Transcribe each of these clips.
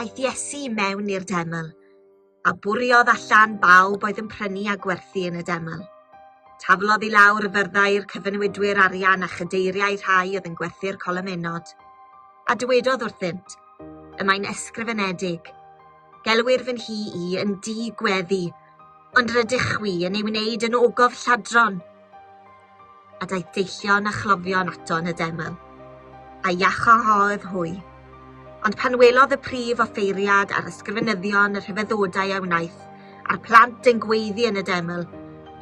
Aeth Iesu i mewn i'r deml. a bwriodd allan bawb oedd yn prynu a gwerthu yn y deml. Taflodd i lawr y fyrddau i'r cyfynwydwyr arian a chadeiriau rhai oedd yn gwerthu'r colomenod, a dywedodd wrthynt, y mae'n esgrifenedig, Gelwir fy nhi i yn di gweddi, ond rydych chwi yn ei wneud yn ogof lladron. a daeth deillion a chlofion ato yn y deml, a iachâodd hwy. Ond pan welodd y prif offeiriad a'r ysgrifenyddion y rhyfeddodau a wnaeth, a'r plant yn gweiddi yn y deml,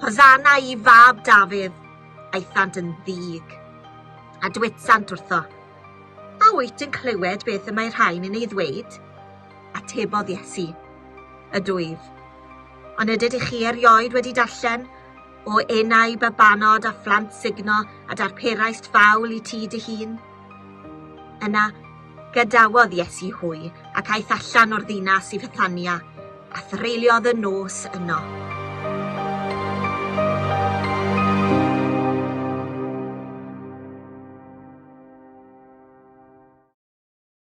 Hosanna i fab Dafydd, aethant yn ddig. A dwetsant wrtho, A wyt yn clywed beth y mae rhain yn ei ddweud? Atebodd Iesu, Ydwyf. Ond ydyd i chi erioed wedi darllen O enau babanod a phlant sugno a darperaist fawl i ti dy hun? Yna, gadawodd Iesu hwy ac aeth allan o'r ddinas i Fethania, a threuliodd y nos yno.